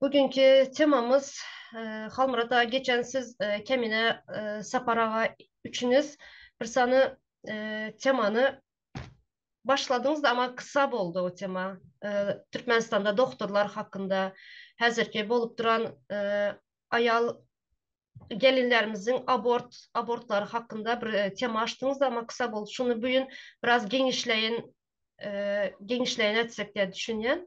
Bu günki temamyz Halmyrat aga geçen siz Kemine Sapar aga üçiniz bir sany temany başladyňyz da ama kysa boldy o tema. Türkmenistanda doktorlar hakynda häzirki bolup duran aýal gelinlerimiziň abort abortlary hakynda bir tema açdyňyz ama kysa boldy. Şuny bu gün biraz geňişleýin geňişleýin etsek diýip düşünýän.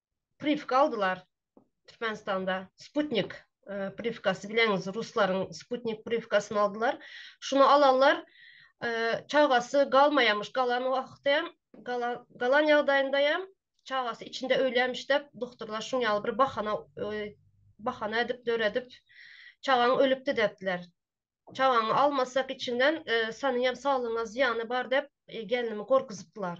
privka aldylar Türkmenistanda sputnik privkasy bileňiz ruslaryň sputnik privkasyny aldylar şuny alanlar çagasy galmaýamyş galan wagty hem galan ýagdaýynda hem çagasy içinde ölýämiş dep duktorlar şuň ýaly bir bahana bahana edip döredip çagaň ölüpdi depdiler çagaňy almasak içinden sanyň hem saglygyňa zyýany bar dep gelnimi gorkuzypdylar.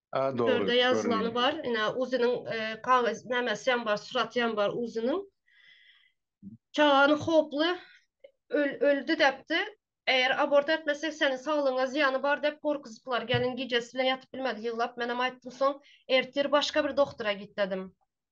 Törde ýazylany bar, ine uzynyň kagyz nämesi hem bar, suraty hem bar uzynyň. Çagany howply öldi depdi. Eger abort etmesek seniň saglygyňa zyýany bar dep gorkuzyplar. Gelin gijesi bilen ýatyp bilmedi ýyglap. Menem aýtdym soň ertir başga bir doktora git dedim.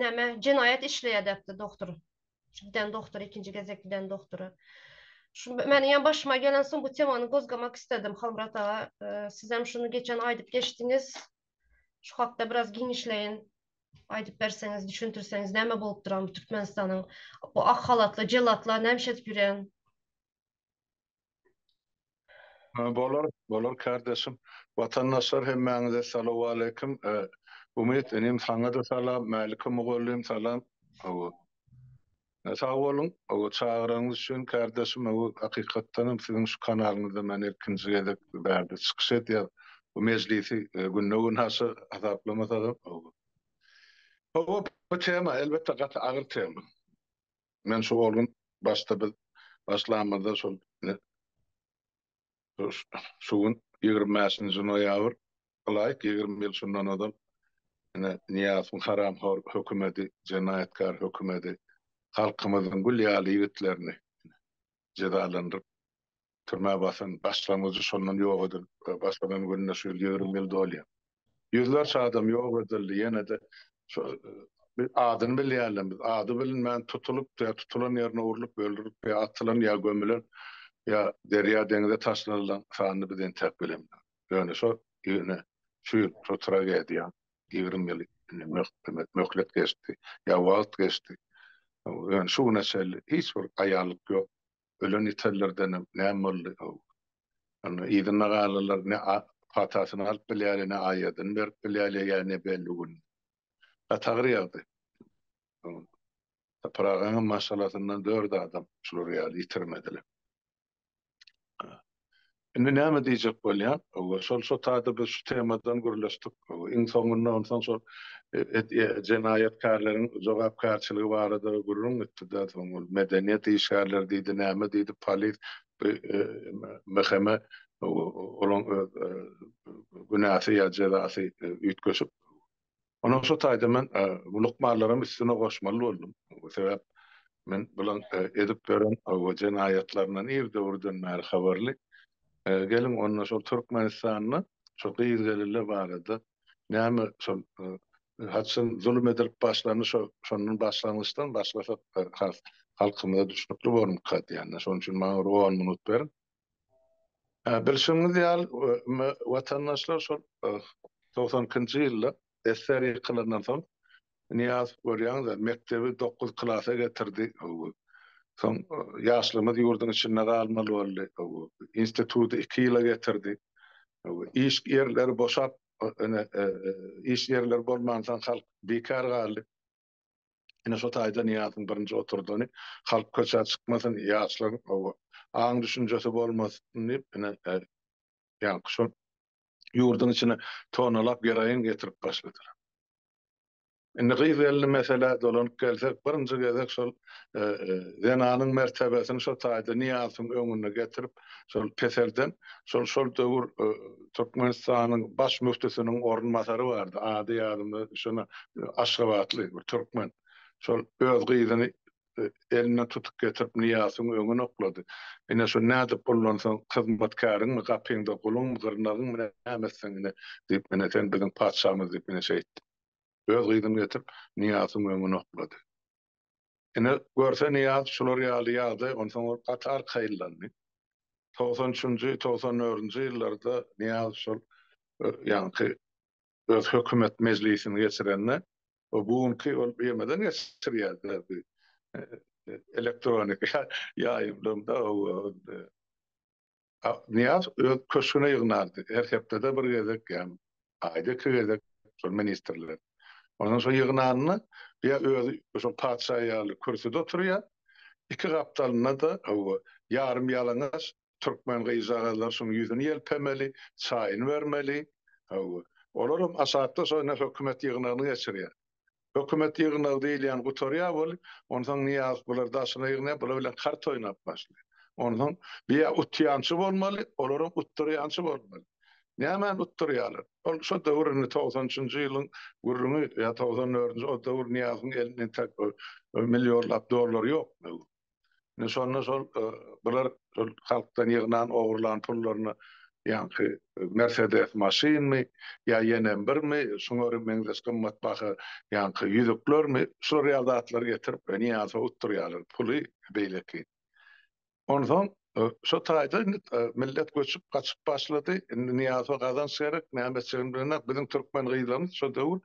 näme jenaýat işleýär depdi doktor. Şu giden doktor ikinji gezek giden doktora. Şu meniň hem başyma gelen soň bu temany gozgamak istedim Halmyrat aga. Siz hem şuny geçen aýdyp geçdiňiz. Şu hakda biraz giňişleýin aýdyp berseňiz, düşündirseňiz näme bolupdyram bu Türkmenistanyň bu ak halatly jellatlar näme iş edip ýörýän? Bolar, bolar kardeşim. Watandaşlar hemmäňize salowaleýkim. Umyt inim saňa-da salam, Mälikgül mugallym salam. Hawa. Sag boluň, hawa çagyranyňyz üçin kardeşim, hawa hakykatdan hem siziň şu kanalyňyzda men ilkinji gezek bu bärde çykyş edýän. Bu mejlisi günde-gün aşa hasaplamasagam, hawa. Hawa bu tema elbetde gaty agyr tema. Men şu ol gün başda biz başlamyzda şol şu gün ýigrimi bäşinji noýabr ylaýyk ýigrimi ýyl şundan ozal ine Nyýazowyň haramhor hökümeti, jenaýatkar hökümeti halkymyzyň gül ýaly ýigitlerini jezalandyryp Türmä basan başlangyjy şondan ýok edilip başlanan gününe şu ýyl ýigrimi ýyl dolýar. Ýüzlerçe adam ýok edildi, ýene-de şu biz adyny bilýänler, biz ady bilinmän tutulyp ýa tutulan ýerine urlup öldürilip ýa atylan ýa gömülen ýa derýa deňize taşlanylan sanyny biz entäk bilemizok. Ýöne şo ýene şu ýyl şo tragediýa ýigrimi ýyl möhlet geçdi ýa wagt geçdi. Ýöne şu güne çenli hiç bir aýanlyk ýok. ölen ýitenlerdenem näme boldy how? Onda yzynda galanlar ne patasyny alyp bilýärýe, ne aýadyny berip bilýärýe ýa ne belli gün. Gaty agyr ýagdaý. Topragaňam maşgalasyndan dört adam şular ýaly ýitirmediler. Indi näme diýjek bolýan? Owo şol şo taýda biz şu temadan gürleşdik. Iň soňunda onsoň şol jenaýatkärleriň jogapkärçiligi barada gürrüň gitdi-de, soň ol medeniýet işgärleri diýdi, näme diýdi, polis bu MHM-e olaň öz günäsi ýa jezasy üýtgeşik Onuň şu taýda men bu lukmanlaram üstüne goşmaly boldum. Sebäp men bulaň edip ýören bu jenaýatlaryndan ir döwürden bäri habarly. Geliň onda şol Türkmenistanda şol gyz gelile barada näme şol haçan zulum edilip başlandy şo şondan başlangyçdan başlasak has halkymyza düşnükli bormyka diýen. Şonuň üçin maňa bir on minut beriň. Bilşiňiz ýaly, watandaşlar şol togsan ikinji ýylda SSR ýykylandan soň, Nyýazow görýäňiz-ä, mekdebi dokuz klasa getirdi. Soň ýaşlarymyz ýurduň içinde galmaly boldy. Instituty iki ýyla getirdi. Iş ýerleri boşap, ine, iş ýerleri bolmansoň, halk bikär galdy. Ine şo taýda Nyýazyň birinji oturdany, Halk köçä çykmasyn, ýaşlaryň oba aň-düşünjesi bolmasyn diýip, ine, ýaňky şol ýurduň içine tonalap geroin getirip başladylar. Indi gyz-gelin meselä dolanyp gelsek, birinji gezek şol zenanyň mertebesini şo taýda Nyýazyň öňüne getirip, şol peselden şol şol döwür Türkmenistanyň baş müftüsiniň orunbasary bardy, ady ýadymda şona aşgabatly bir türkmen. Şol öz gyzyny elinden tutup getirip Nyýasyň öňüne oklady. Ine şu nädip pullansaň hyzmatkäriňmi, gapyňda guluňmy, gyrnagyňmy näme etseň ine diýip ine sen biziň patyşamyz diýip ine şeýtdi. Öz gyzyny getirip Nyýasyň öňüne oklady. Ine, görse Nyýaz şular ýaly ýagdaý, onsoň ol gaty arkaýynlandy. Togsan üçünji, togsan dördünji ýyllarda Nyýaz şol ýaňky öz hökümet mejlisini geçirende, bu günki ol ýemeden geçirýärdi-ä bu elektronika ýaýymdan-da, hawa, Aknyýaz öz köşgüne ýygnardy. Her hepdede bir gezek ýa aýda iki gezek şol ministrler. Ondan şo ýygnanyny ýa özi şo patyşa ýaly kürsüde oturýar, iki gapdalynda-da hawa, ýarym-ýalaňaç türkmen gyzjagazlary şoň ýüzüni ýelpemeli, çaýyny bermeli. Hawa, olar hem aşakda şo ine hökümet ýygnagyny geçirýär. Hökümet ýygnagy diýilýän gutarýar bolup, onsoň Nyýazow bulary daşyna ýygnaýar, bular bilen kart oýnap başlaýar. Onsoň bu ýa utýançy bolmaly, olaram utdyrýançy bolmaly. Nämäni utdyrýarlar? Ol şo döwür indi togsan üçünji ýylyň gürrüňi ýa togsan dördünji o döwür Nyýazowyň elinde intäk millionlap dollar ýokmy? Indi şonda şol e, bular şol halkdan ýygnan, ogurlan pullaryny ýaňky e, Mercedes maşynmy ýa ýene birmi, şuňa bir meňzeş gymmatbaha ýaňky ýüzüklermi, şular ýaly zatlary getirip, e, Niýazow utdurýarlar puly beýleki. Onsoň Şo taýda indi millet göçüp gaçyp başlady. Indi Nyýazowa gazanç gerek. Nämeçigini bilenak. Biziň türkmen gyzlarymyz şo döwür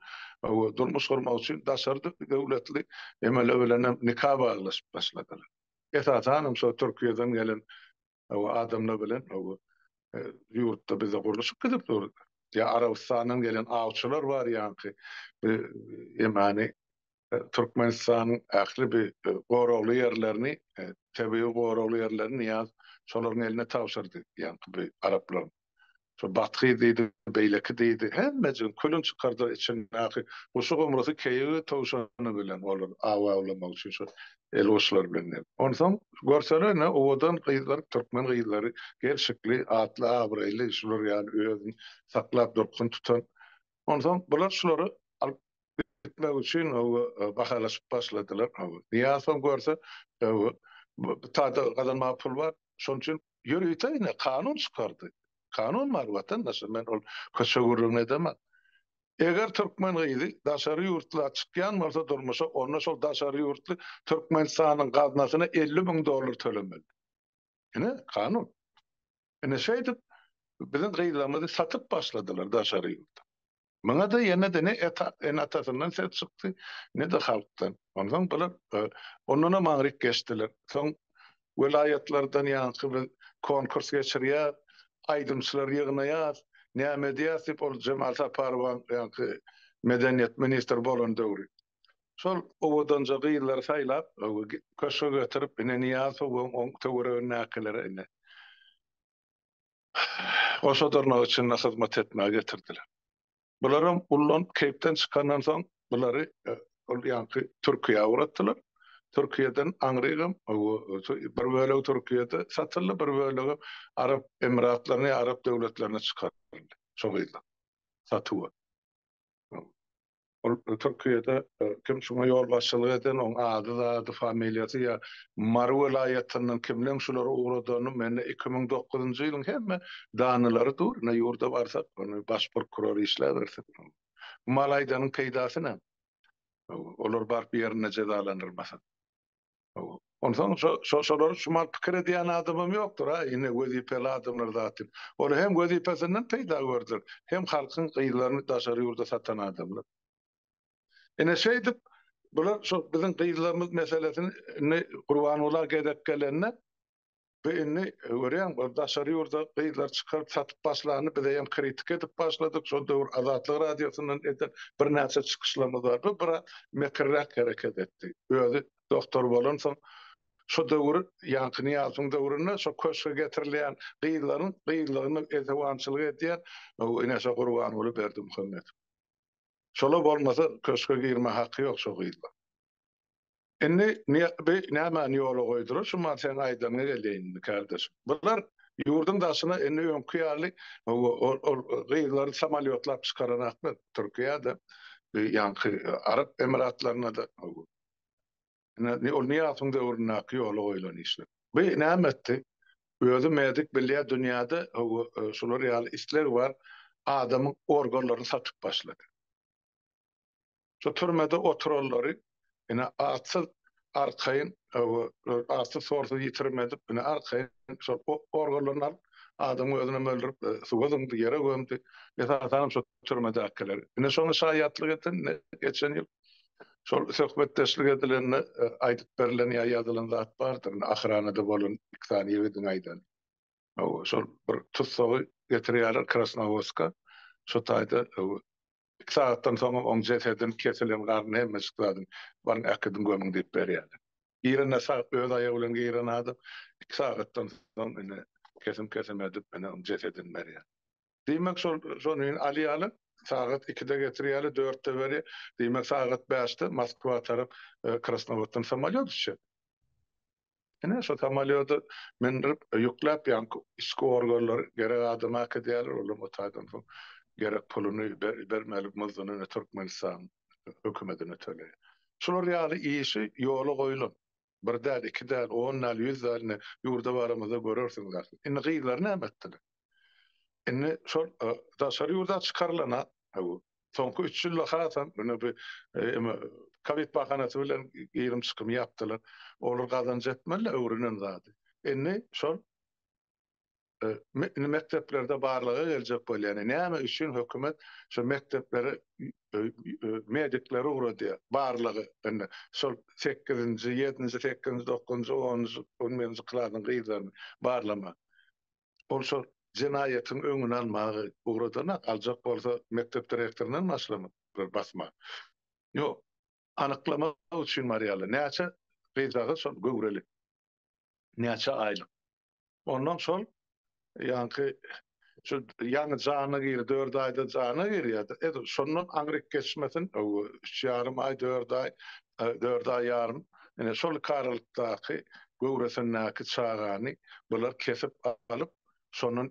durmuş gurmak üçin daşary döwletli emele bilenem nika baglaşyp başladylar. Esasanam şo Türkiýeden gelen adamlar bilen ýurtda bizde gurluşyk gidip dur. Ýa Arabystandan gelen awçylar bar ýaňky bir emani Türkmenistanyň ähli bi goragly ýerlerini, tebigy goragly ýerlerini Nyýaz şolaryň eline tabşyrdy, ýaňky bi araplaryň. Şo Bathy diýdi, beýleki diýdi, hemmejigini külüni çykardylar içindäki guşy-gomrusy, keýigi, towşany bilen olar aw awlamak üçin şo elguçlar bilen ne. Onsoň görsele ne owadan gyzlar, türkmen gyzlary, gelşikli, atly, abraýly, şular ýaly özüni saklap durkun tutan. Onsoň bular şulary alyp gitmek üçin bahalaşyp başladylar. Nyýazow görse, tada gazanmaga pul bar, şonuň üçin ýörite ine kanun çykardy. Kanun bar watandaşlar, men ol köçe gürrüňini edemen. Eger türkmen gyzy daşary ýurtla çykýan bolsa durmuşa, onda şol daşary ýurtly Türkmenistanyň gaznasyna elli müň dollar tölemeli. Ine, kanun. Ine şeýdip biziň gyzlarymyzy satyp başladylar daşary ýurda. Muňa-da ýene-de ne ene-atasyndan ses çykdy, ne-de halkdan. Onsoň bular ondanam aňryk geçdiler. Soň welaýatlardan ýaňky biz konkurs geçirýäs, aýdymçylary ýygnaýas, näme edýäs diýip, ol Jemal Saparowaň ýaňky medeniýet ministri bolan döwri. Şol owadanja gyzlary saýlap, köşge getirip, ine, Nyýazowyň oň töweregindäkilere, ine, osadyrnak içinde hyzmat etmäge getirdiler. Bularam ullan keýpden çykandan soň bulary ol ýanky Türkiýä ugratdylar. Türkiýeden aňrygam bir bölegi Türkiýede satyldy, bir bölegem Arap Emiratlaryna ýa Arap döwletlerine çykaryldy şo gyzlar satuwa. Ol Türkiýede kim şuňa ýolbaşçylyk eden, oň ady zady, familiýasy ýa Mary welaýatyndan kimleň şulary ugradany mende iki müň dokuzynjy ýylyň hemme danylary dur, ine ýurda barsak baş prokuror işläbersin. Bu mal aýdanyň peýdasy näme? Olar baryp ýerinde jezalandyrylmasa. Onsoň şo-şolary şumal pikir edýän adamam ýokdur-a, ine, wezipeli adamlar zat diýip. Olar hem wezipesinden peýda gördüler, hem halkyň gyzlaryny daşary ýurda satan adamlar. Ine, şeýdip, bular şo biziň gyzlarymyz meselesini Gurbanguly aga gezek gelende, Bu indi görýäň bir daşary ýurda gyzlar çykaryp satyp başlany bizeýem kritika edip başladyk şol döwür Azatlyk radiosyndan eden birnäçe çykyşlarymyz bar bu biraz mekirräk hereket etdi özi doktor bolansoň şo döwür ýaňky Nyýazowyň döwründe şo köşge getirilýän gyzlaryň gyzlygyny esewançylyk edýän ine şo Gurbanguly Berdimuhamedow şolar bolmasa köşge girme haky ýok şo gyzlaryň. Indi bi nämäni ýola goýdular, şu man seň aýdanyňa geleýin indi kardeşim. Bular ýurduň daşyna indi öňki ýaly ol gyzlary samolýotlap çykaranaklar Türkiýede, bi ýaňky Arap Emiratlarynada. Indi ol Nyýasyň döwründäki ýola goýlan işler. Bi näme etdi? Özi medik bilýä dünýäde şular ýaly isleg bar, adamyň organlaryny satyp başlady. Şu türmede oturanlary ine atsyz arkaýyn atsyz sorsuz ýitirim edip ine arkaýyn şol organlaryny alyp adamyň özünem öldürip suwa zyňdy ýere gömdi esasanam şu türmedäkiler ine şoňa şaýatlyk eden geçen ýyl şol söhbetdeşlik edilende aýdyp berlen ýa ýazylan zat bardyr ine ahyranada bolan iki sany ýigidiň aýdan şol bir tussagy getirýärler krasnowodska şu taýda Iki sagatdan soňam oň jesedin, kesilen garnyn hemmejik zadyn baryň äkidiň gömüň diýip berýärler. Birine sag öz aýagy bilen giren adam iki sagatdan soň ine kesim-kesim edip ine oň jesedin berýär. Diýmek şol şonuň alýalar sagat ikide getirýäler dörtde berýär. Diýmek sagat bäşde Moskwa tarap Krasnowoddan samolýot uçýar. Ine, şo samolýody mündirip, ýükläp, ýaňky içki organlar gerek adama äkidýärler, olam o taýdan soň gerek puluny bermeli, muzduny ine Türkmenistan hökümetine töleýär. Şular ýaly işi ýola goýulan, bir däl, iki däl, on däl, ýüz däl, ine, ýurda baramyzda görersiňiz ahyryn. Indi gyzlary näme etdiler? Indi şol daşary ýurda çykarylana, Soňky üç ýylda hasam ine bu eme kowid bahanasy bilen girim çykym ýapdylar. Olar gazanç etmediler öwrenen zady. Indi şol mekdeplerde barlaga geljek bolýan näme üçin hökümet şu mekdeplere medikleri ugradýar barlaga indi şol sekizinji ýedinji sekizinji dokuzynjy onunjy on birinji klasyň gyzlaryny barlamak Ol şol jenaýatyň öňüni almaga ugradan-a, aljak bolsa mekdep direktoryndan başlamak bir basma. Ýok, anyklamak üçin barýarlar. Näçe gyzjagaz şol göwreli. Näçe aýlyk. Ondan şol ýaňky şu ýaňy jana girdi, dört aýda jana girýärdi. Edil şondan aňryk geçmesin, öw, üç ýarym aý, dört aý dört aý ýarym ine şol karylykdaky göwresindäki çagany bular kesip alyp, şondan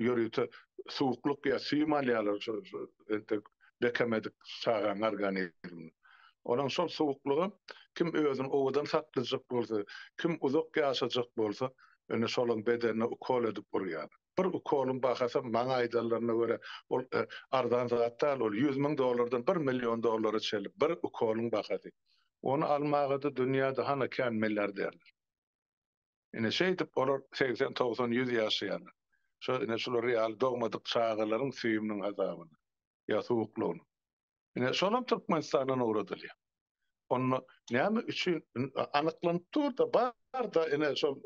ýörite suwuklyk ýa süýüm alýarlar şo entek bekemedik çagaň organizminden. Onuň şol suwuklygam kim özüni owadan saklajak bolsa, kim uzak ýaşajak bolsa, ine şolaň bedenine ukol edip urýarlar. Bir ukolyň bahasy maňa aýdanlaryna görä, ol arzan zat däl, ol ýüz müň dollardan bir million dollara çenli bir ukolyň bahasy. Ony almaga-da dünýäde hany kän milliarderler. Ine, şeýdip olar segsen, togsan, ýüz ýaşaýarlar. Şo, ine, şular ýaly dogmadyk çagalaryň süýüminiň hasabyna. ýa suwuklygyny. Ine, şolam Türkmenistandan ugradylýar. Onda näme üçin anyklanyp dur-da, bar-da, ine, şol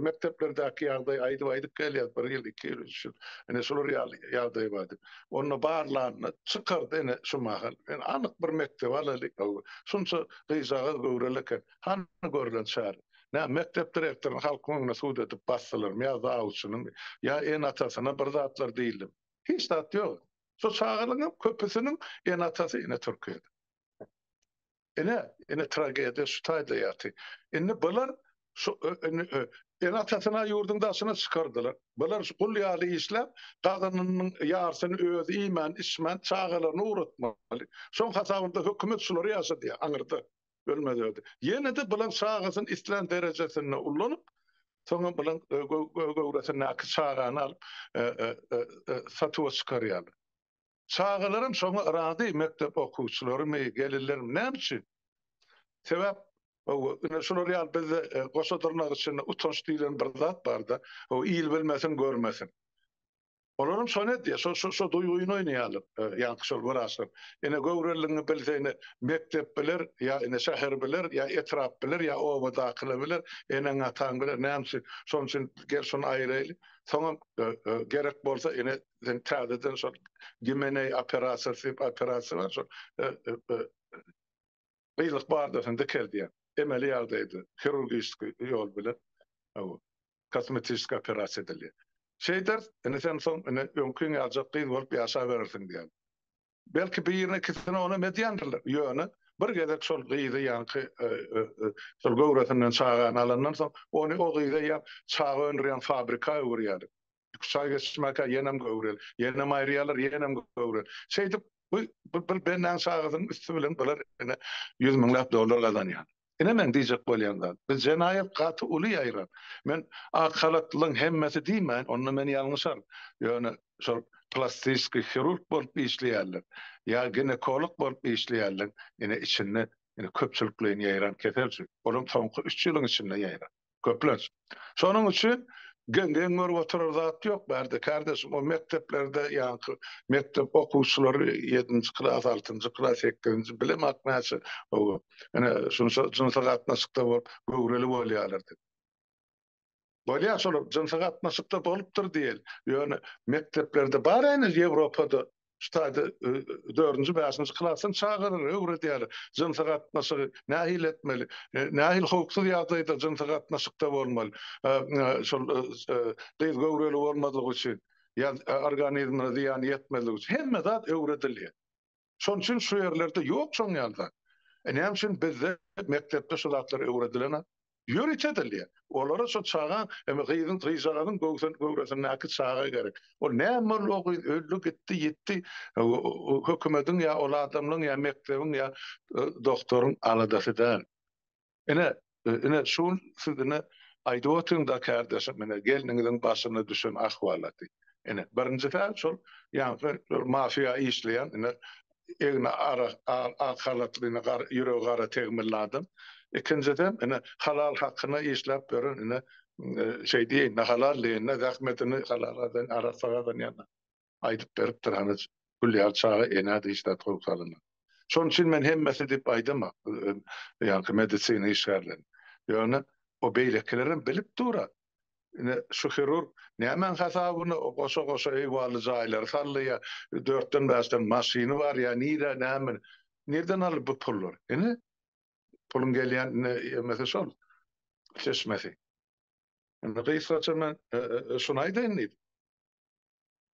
mekdeplerdäki ýagdaýy aýdyp-aýdyp gelýär, bir ýyl, iki ýyl, üç ýyl, ine, şular ýaly ýagdaý bar diýip. Onda barlanda çykar-da, ine, şu mahal, ine, anyk bir mekdebi alaýlyk, şunça gyzjagaz göwreli eken, hany görlen çäre? Näme, mekdep direktoryny halkyň öňüne sud edip basdylarmy ýa zawçynymy? Ýa ene-atasyna bir zatlar diýildimi? Hiç zat ýok. Şu çagalaryň köpüsiniň ene-atasy ene Türkiýede. Ine, ine tragediýa şu taýda ýaty. Indi bular şu ene-atasyna ýurduň daşyna çykardylar. Bular şu gul ýaly işläp, gazynynyň ýarysyny özi iýmän, içmän, çagalaryny ugratmaly. Şoň hasabynda hökümet şulary ýaşadýar aňyrda. Ölmezerdi. Ýene-de bilen çagasyny islän derejesinde ullanyp, soňam bilen göwresindäki çagany alyp, satuwa çykarýarlar. Çagalaram şoňa razy, mekdep okuwçylarymy, gelinlermi, näme üçin? Sebäp, hawa, ine, şular ýaly bizde goşa dyrnak içinde utanç diýlen bir zat bar-da, hawa, il bilmesin, görmesin. Olaram şony edýär, şo şo şo duýgyny oýnaýarlar. E, ýaňky şol wraçlar. Ine göwreligiňi bilse ine mekdep biler, ýa ine şäher biler, ýa etrap biler, ýa obadakylar biler, eneň ataň biler, näme üçin? Şonuň üçin gel şony aýyraýly. Soňam e, e, gerek bolsa ine sen täzeden şol Gimeneý operasiýasy diýip operasiýa bar şol. E, e, e, gyzlyk bardasyny dikeldýän, emeli ýagdaýda, hirurgiski ýol bilen, hawa, kosmetiski operasiýa edilýär. Şeýders, indi sen soň, indi öňkiňi aljak gyz bolup ýaşaberersiň diýýän. Belki, birine-ikisine onam edýändirler, ýöne bir gezek şol gyzy, ýaňky şol göwresinden çagany alandan soň, ony o gyza ýa çaga öndürýän fabrika öwürýärler. Iki çaý geçirmäkä ýenem göwrel, ýenem aýrýarlar, ýenem göwrel. Şeýdip, bu bir bennäň çagasynyň üsti bilen bular ine ýüz müňläp dollar gazanýar. Ine meň diýjek bolýan zat, biz jenaýat gaty uly ýaýran. Men ak halatlylaryň hemmesi diýmäýin, onda men ýalňyşaryn. Ýöne şol plastiskiý hirurg bolup işleýänler ýa ginekolog bolup işleýänleriň ine içinde ine köpçülikleýin ýaýran kesel şu. Olam soňky üç ýylyň içinde ýaýran. köplenç. Şonuň üçin geň görüp oturar zat ýok bärde kardeşim o mekdeplerde ýaňky mekdep okuwçylary ýedinji klas altynjy klas sekizinji bilemak näçe ine şunça jynsy gatnaşykda bolup göwreli bolýarlar diýip bolýar şolar jynsy gatnaşykda bolupdyr diýeli ýöne mekdeplerde bar heniz ýewropada Şu taýda dördünji, bäşinji klasdan çagalara öwredýärler. Jynsy gatnaşygy nähili etmeli? Nähili howpsuz ýagdaýda jynsy gatnaşykda bolmaly? Şol gyz göwreli bolmazlyk üçin, organizmine zyýan ýetmezlik üçin hemme zat öwredilýär. Şonuň üçin şu ýerlerde ýok şoň ýaly zat. Näme üçin bizde mekdepde şu zatlar öwredilenok? Ýörite edilýär. Olara şo çaga, indi gyzyň, gyzjagazyň göwsen, göwresindäki çaga gerek. Ol näme boldy, o gyz öldi, gitdi, ýitdi, o-o hökümediň ýa ol adamlaň ýa mekdebiň ýa e, doktoryň aladasy däl. Ine, e, ine şu gün siz ine aýdyp otyň-da kärdeşim, ine gelniňiziň başyna düşen ahwalaty. Ine, birinjisi-ä şol ýaňky mafiýa işleýän, ine egni ara ak halatly ine ýüregi gara tegmilli adam. Ikinjiden ine halal hakyna işläp ýören ine şeý diýeýinde halal diýeýinde zähmetini halala diýen arassa gazanýanlar aýdyp beripdir hany Gülýar çaga enä diýiş zat gowy salymyň. Şonuň üçin men hemmesi diýip aýdamok ýaňky medisina işgärlerini. Ýöne o beýlekilerem bilip dur-a Ine, şu hirurg nämäň hasabyna goşa-goşa höwali jaýlary saldy ýa dörtden-bäşden maşyny bar ýa nire, näme, nirden aldy bu pullary? Ine, puluň gelýän ýermesi şol, çeşmesi. Indi gysgaça men şuny aýdaýyn diýdim.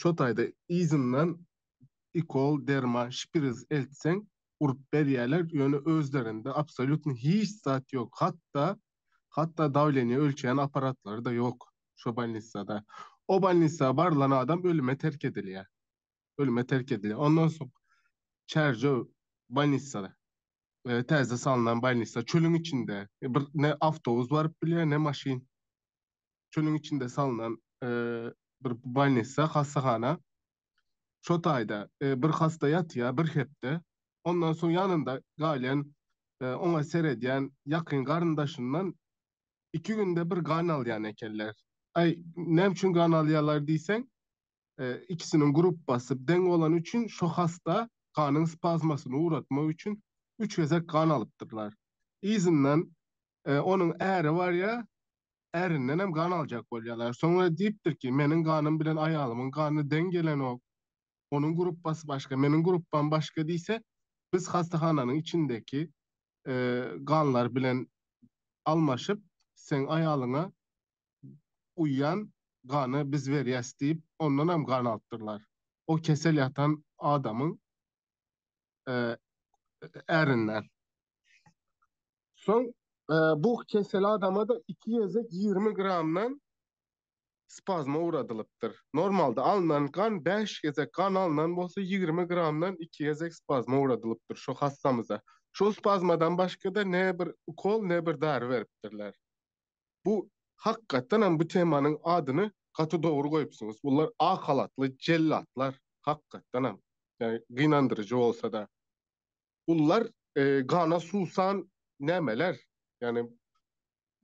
Şo taýda yzyndan ikol, derman, şpiriz eltseň, urup berýärler, ýöne özlerinde absolýutno hiç zat ýok. Hatda, hatda dawleniýe ölçeýän apparatlary-da ýok şo bolnissada. O bolnissa barlan adam ölüme terk edilýär. Ölüme terk edilýär. Ondan soň Çärjew bolnissada, täze salnan bolnissa, çölüň içinde. Bir ne awtobus baryp bilýär, ne maşyn. Şonuň içinde salnan bir bolnissa, hassahana. Şo taýda bir hassa ýatýar bir hepde. Ondan soň ýanynda galýan, oňa seredýän ýakyn garyndaşyndan iki günde bir gan alýan ekenler. Aý, näme üçin gan alýarlar diýseň, ikisiniň gruppasy deň bolany üçin şo hassa ganyň spazmasyny ugratmak üçin üç gezek gan alypdyrlar. Yzyndan onuň äri barýar, ärindenem gan aljak bolýarlar. Soňra diýipdir ki, meniň ganym bilen aýalymyň gany deň gelenok, onuň gruppasy başga, meniň gruppam başga diýse, biz hassahananyň içindeki ganlar bilen almaşyp, seň aýalyňa uýýan gany biz berýäs diýip, ondanam gan alypdyrlar. O kesel ýatan adamyň ärinden. Soň bu keseli adama-da iki gezek ýigrimi gramdan spazma ugradylypdyr. Normalda alnan gan bäş gezek gan alnan bolsa ýigrimi gramdan iki gezek spazma ugradylypdyr şu hassamyza. Şol spazmadan başga-da ne bir ukol, ne bir dary beripdirler. Bu hakykatdan hem bu temanyň adyny gaty dogry goýupsyňyz. Bular ak halatly jellatlar hakykatdan hem. Ýagny gynandyryjy bolsa-da. Gullar gana suwsan nämeler? Ýagny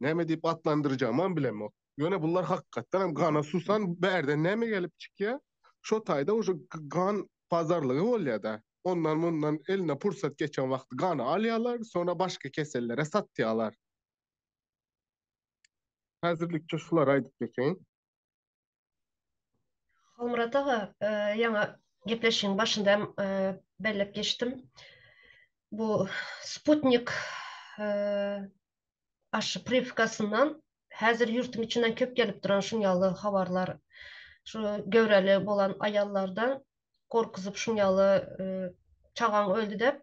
näme diýip atlandyrjagymam bilemok. Ýöne bular hakykatdan hem gana suwsan bärden näme gelip çykýar? Şo taýda uje gan pazarlygy bolýar-da. Ondan mundan eline pursat geçen wagty gany alýarlar, soňra başga kesellere satýarlar. Häzirlikçe şulary aýdyp geçeýin. Halmyrat aga, e, ýaňy gepleşigiň başynda hem e, bellep geçdim. Bu Sputnik e, aşy privkasyndan häzir ýurtym içinden köp gelip duran şun ýaly habarlar şu göwreli bolan aýallardan gorkuzyp şun ýaly e, çagaň öldi dep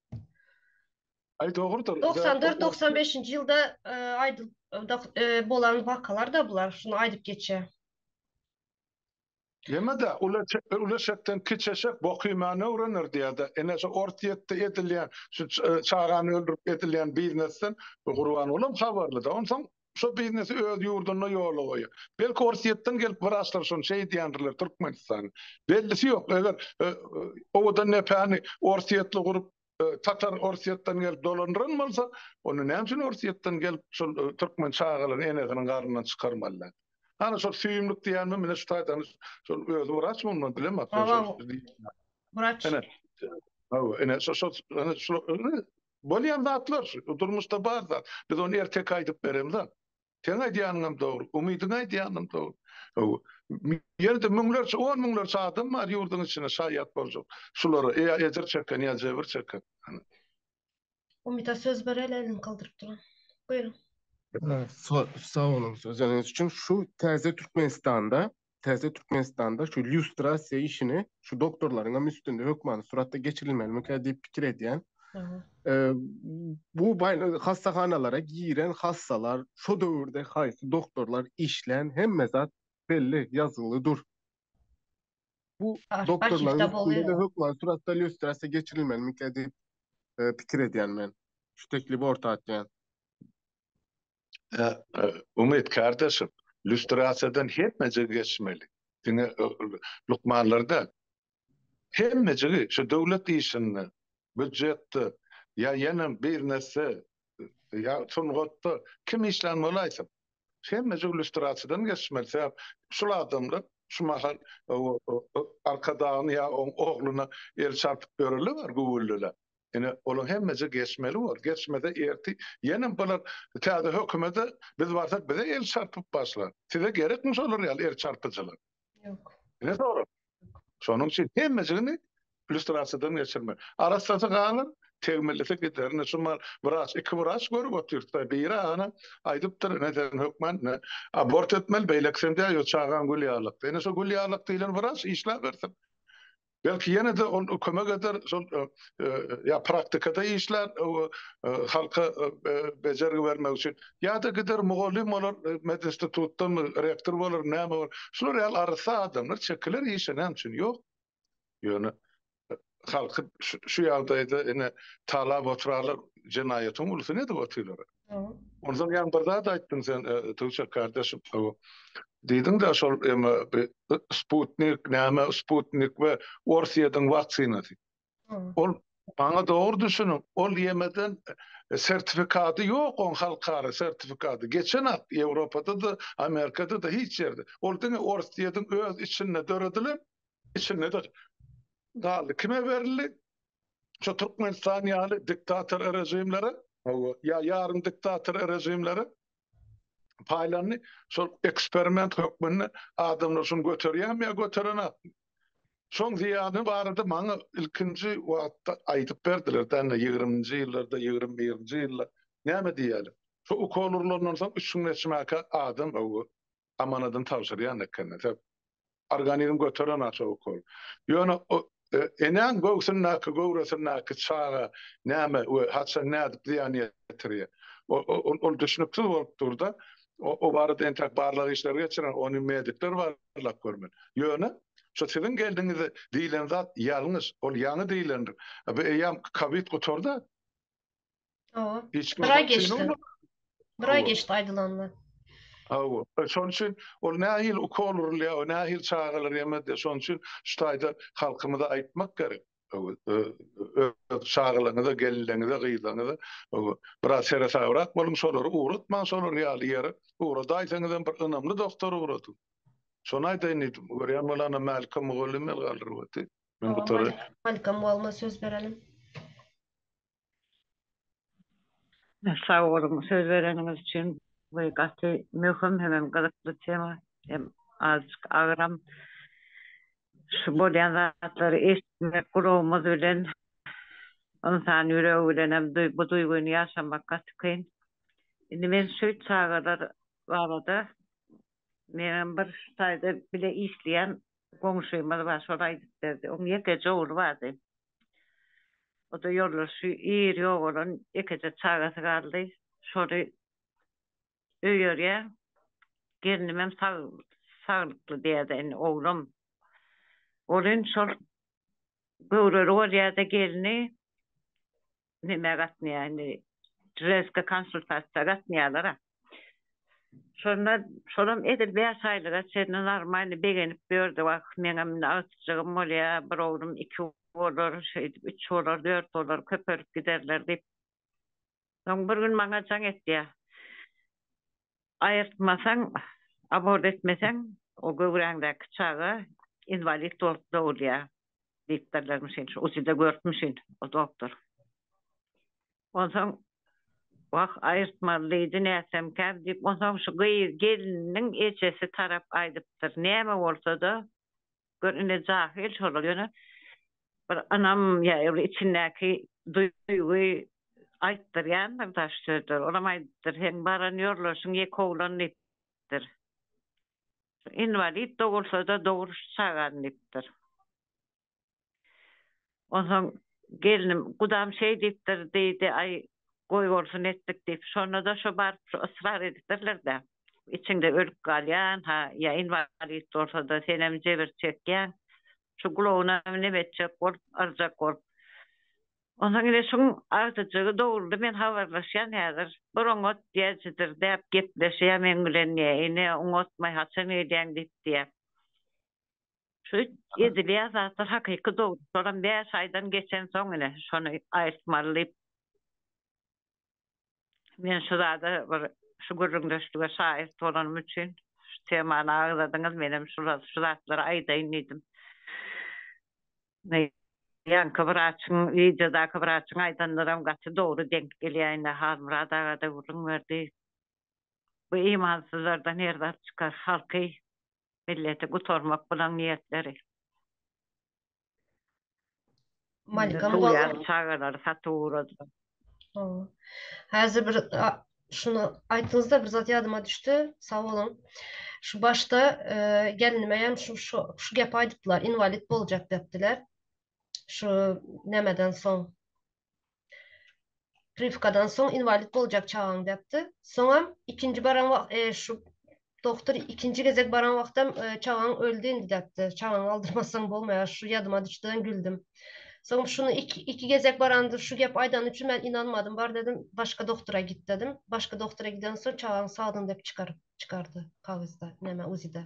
Aý dogrudyr. Doksan dört, doksan beşinji ýylda aýdylyp bolan wakalar-da bular, şuny aýdyp geçýär. Ýene-de Ulu eşekden kiçi eşek bok iýmäni öwrener diýýär-de. Ine şu Orsýetde edilýän, şu çagany öldürip edilýän biznesden Gurbangulam habarly-da. Onsoň Şo biznesi öz ýurdunda ýola goýýar. Belki Orsýetden gelip wraçlar şony şeý edýändirler Türkmenistan. Bellisi ýok. Eger owadan depäni Orsýetli gurup Tatar Orsýetden gelip dolandyran bolsa, onda näme üçin Orsýetden gelip şol Türkmen çagalaryny enesiniň garnyndan çykarmalylar. Ana şol süýümlik diýýänmi mine şu taýdan şol özi wraç mundan bilemok. Wraç. Ene şo şo şo Bolýan zatlar şu, bu durmuşda bar zat. Biz ony erteki aýdyp beremzä. Seň aýdýanyňam dogry, Umydyň aýdýanam dogry. Ýerde müňlerçe, on müňlerçe adam bar ýurduň içinde şaýat boljak şulara, ýa ejir çeken, ýa jebir çeken. Umyda söz bereli elini galdyryp duran. Buýruň. Sag boluň sözüňiz üçin. Şu täze Türkmenistanda Täze Türkmenistanda şu lýustrasiýa işini şu doktorlaryň hem üstünde hökmany suratda geçirilmelimikä diýip pikir edýän. Bu hassahanalara giren hassalar, şu döwürde haýsy doktorlar işlän hemme zat belli, ýazgyly dur. Bu doktorlaryň üstünde hökmany suratda lýustrasiýa geçirilmelimikä diýip pikir edýän men. Şu teklibi orta atýan. Umyt kardeşim, lýustrasiýadan hemmejigi geçmeli. Diňe lukmanlar däl. Hemmejigi şu döwlet işinde, býujetde, ýa ýene bizneste, ýa sungatda kim işlän bolaýsyn, hemmejigi lýustrasiýadan geçmeli. Sebäp şul adamlar şu mahal Arkadagyny ýa oň oglyna el çarpyp ýöreli bar güwwüldeläp. Ine, olar hemmeje geçmeli bor. Geçmese ertir ýene bular täze hökümede biz barsak bize el çarpyp başlar. Size gerekmi şolar ýaly el çarpyjylar? Ýok. Ine sorag. Şonuň üçin hemmejigini lýustrasiýadan geçirmeli. Arassasy galar, tegmillisi gider. Ine şu mal wraç, iki wraç görüp otyrsa, biri agana aýdypdyr, ine sen hökman ine abort etmeli, beýlekisem diýýär, ýo çagaň gül ýalykdy. Ine şu gül ýalykdy diýlen wraç işläbersin. Belki ýene-de ol kömek eder, şol ýa praktikada işlär, halka bejergi bermek üçin, ýa-da gider mugallym bolar, medinstitutdanmy, rektor bolar, näme bolar. Şular ýaly arassa adamlar çekiler işe, näme üçin ýok? Ýöne halky şu ýagdaýda ine talap oturarlar, jenaýatyň ulusyn edip otyrlar. Onsoň ýaňy bir zat aýtdyň sen, Tuwçek kardeşim. Diýdiň-de, şol eme Sputnik, näme Sputnik we Orsýetiň waksinasy. Ol, maňa dogry düşüniň, ol ýemeden sertifikady ýok, oň halkara sertifikady geçenok, Ýewropada-da, Amerikada-da, hiç ýerde. Ol diňe Orsýetiň öz içinde döredilen, içinde-de galdy. Kime berildi? şu Türkmenistan ýaly diktator režimlere, hawa, ýa ýarym diktator režimlere paýlandy. Şol eksperiment hökmünde adamlar şuny göterýärmi ýa göterenokmy? Şoň zyýany barada maňa ilkinji wagtda aýdyp berdiler, däne ýigriminji ýyllarda, ýigrimi birinji ýylda näme diýýärler? Şu ukol urlandan soň üç müňden çymakä adam, hawa, amanadyny tabşyrýan ekeni. Sebäp organizm göteren aşa ukol. Ýöne enäň göwsündäki, göwresindäki çaga näme we haçan nädip zyýan ýetirýär? Ol düşnüksiz bolup dur-da, o barada entäk barlag işleri geçiren ony medikler barlap görmeli. Ýöne şu siziň geldiňizde diýlen zat ýalňyş, ol ýaňy diýlendir. Bu eýýäm kowid gutardy. Hawa. Bir aý geçdi. Bir aý geçdi aýdylanda. Hawa. E, şonuň üçin ol nähili ukol urulýar, nähili çagalar ýemedi. Şonuň üçin şu taýda halkymyza aýtmak gerek. Çagalaryňyza, gelinleriňize, gyzlaryňyza biraz seresabrak boluň, şolary ugratmaň şolar ýaly ýere. Ugradaýsaňyz hem bir ynamly doktora ugradyň. Şony aýdaýyn diýdim. Görýän bolanda Mälikka mugallym el galdyryp otdy. Men gutaryp. Mälikka mugallma söz berelim. Sag boluň söz bereniňiz üçin. Bu gaty möhüm hemem gyzykly tema. Hem azajyk agyram. Şu bolýan zatlary eşitmek gulagymyz bilen ynsan ýüregi bilenem bu duýgyny ýaşamak gaty kyn. Indi men şu çagalar barada meňem bir şu taýda bile işleýän goňşymyz bar şol aýdyp berdi. Oň ýekeje ogly bardy. O-da ýoldaşy ir ýogalan ýekeje çagasy galdy. Şoly öýerýär. Gelnimem sag, saglykly diýýär-de indi oglum. Ol indi şol göwreli bolýar-da gelni. nämä gatnaýar, indi ženskaý konsultasiýa gatnaýarlar-a. Şonda şolam edil bäş aýlyga çenli normalny begenip ýördi. Wah, meňem indi agtyjagym bolýar, bir oglum iki bolar, şeýdip üç bolar, dört bolar, köpelip giderler diýip. Soň bir gün maňa jaň etýär. Aýyrtmasaň, abort etmeseň, o göwräňdäki çaga inwalid bolup dogulýar diýipdirlermişin, şu ujyda görüpmişin o doktor. Onsoň, Wah, aýyrtmaly diýdi, nätsemkä diýip, onsoň şu gyz, gelniniň ejesi tarap aýdypdyr, näme bolsa-da, Gör indi jahil şolar ýöne bir ynam ýa bir içindäki duýgy aýtdyrýandyr daş sözleri. Olam aýdypdyr, seň baran ýorlaşyň ýek oglan diýipdir. Inwalid dogulsa-da dogruş çagan diýipdir. Onsoň gelnim, Gudam şeý diýipdir diýdi, aý, goý bolsun etdik diýip. Şonda-da şo baryp şo ysrar edipdirler-dä. Içiňde ölüp galýan-ha, ýa inwalid bolsa-da senem jebir çekýäň. Şu gulagynam neme etjek bolup, yrjak bolup. Onsoň ine şuň agtyjygy doguldy, men habarlaşýan häzir. Bir oňat diýäýjidir däp gepleşýär meň bilen diýýä. Ine, oňatmaý haçan gelýäň diýip diýýä. Şu edilýän zatlar hakyky dogry. Şolam bäş aýdan geçensoň ine şony aýtmaly diýip. Men şu zada bir şu gürrüňdeşlige şaýat bolanym üçin şu temany agzadyňyz menem şu zatlary aýdaýyn diýdim. Ýaňky wraçyň wideodaky wraçyň aýdanlaram gaty dogry deňk gelýär indi Halmyrat agada gürrüň berdi. Bu imansyzlardan her zat çykar halky milleti gutarmak bilen niýetleri. Malika mugallym çagalary satyp ugradylar. Häzir bir şuny aýtdyňyzda bir zat ýadyma düşdi. Sag boluň. Şu başda gelnime hem şu şu gepi aýdypdylar, inwalid boljak depdiler. Şu nämeden soň Prywkadan soň inwalid boljak çagaň diýipdi. Soňam ikinji baran wagt e, şu doktor ikinji gezek baran wagtam e, çagaň öldi indi diýipdi. Çagaň aldyrmasaň bolmaýar. Şu ýadyma düşdüden güldüm. Soň şuny iki, iki gezek baranda şu gep aýdany üçin men inanmadym. Bar dedim, başga doktora git dedim. Başga doktora giden soň çagaň sagdyn diýip çykaryp çykardy kagyzda, näme uzide.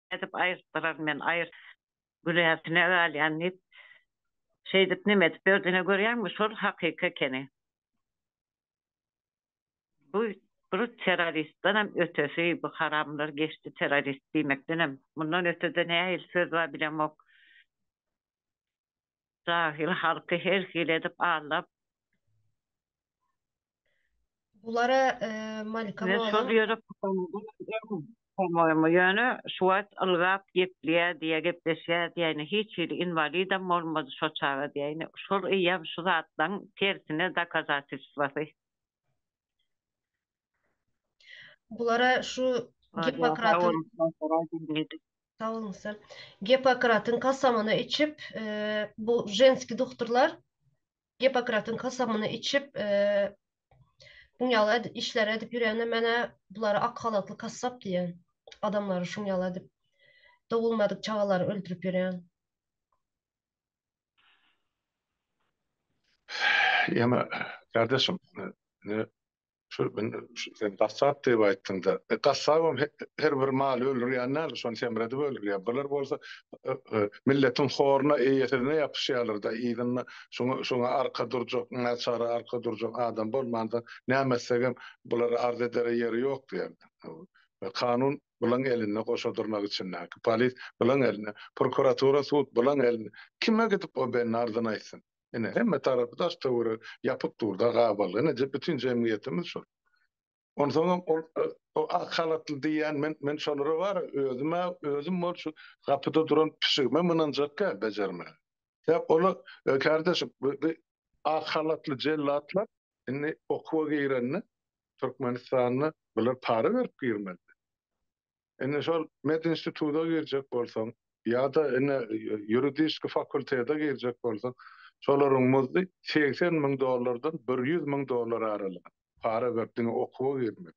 Nädip aýyrtdyraryn men, aýyrt. Güläsine galýan diýip, şeýdip neme edip ýördi. Ine, görýäňmi, şol hakyky ekeni. Bu bir terroristdenem ötesi, bu haramlar geçdi terrorist diýmekdenem. Mundan öte-de nähili söz bar bilemok. Jahil halky her hili edip aldap. Bulara Malika molla. Men şol ýere pusamadym. Ýöne şu wagt ylgap gepleýä diýýä, gepleşýä diýýä. Hiç hili inwalidem bolmady şo çaga diýýä. Şol eýýäm şu zatlaryň tersine dokazatelstwasy. Bulara şu Gippokratyň Sag boluň sen. Gippokratyň kasamyny içip, bu ženski dukturlar Gippokratyň kasamyny içip, bu ýaly edip işler edip ýürende menä bulary ak halatly kassap diýen. Adamlary şuň ýaly edip dogulmadyk çagalary öldürip ýürýän. Ýene gardaşym. Şol gün sen gassap diýip aýtdyňda, gassabam her bir maly öldürýän däl, şony semredip öldürýär. Bular bolsa milletiň horuna, eýesizine ýapyşýarlar-da, yzynda şoňa arka durjak, naçara arka durjak adam bolmanda, näme etsegem bulara arz edere ýeri ýok diýýärler. Kanun bulaň elinde, goşa dyrnak içindäki polis bulaň elinde, prokuratura, sud bulaň elinde. Kime gidip o bendi arzyny aýtsyn? Ine, hemme tarapy daş-töweregi ýapyk dur-da, gabaly. Ine, bütin jemgyýetimiz şol. Onsoňam ol ak halatly diýýän, men, men şolara bary özüm-ä, özüm bol şu gapyda duran pişigimem ynanjak däl bejermäge. Sebäp olar, kärdeşim, bu, bu ak halatly jellatlar indi okuwa girende Türkmenistanda bular para berip girmelidir. Indi şol medinstituta girjek bolsaň ýa-da indi ýuridiski fakultete girjek bolsaň, şolaryň muzdy segsen müň dollardan bir ýüz müň dollar aralygy para berip diňe okuwa girmek.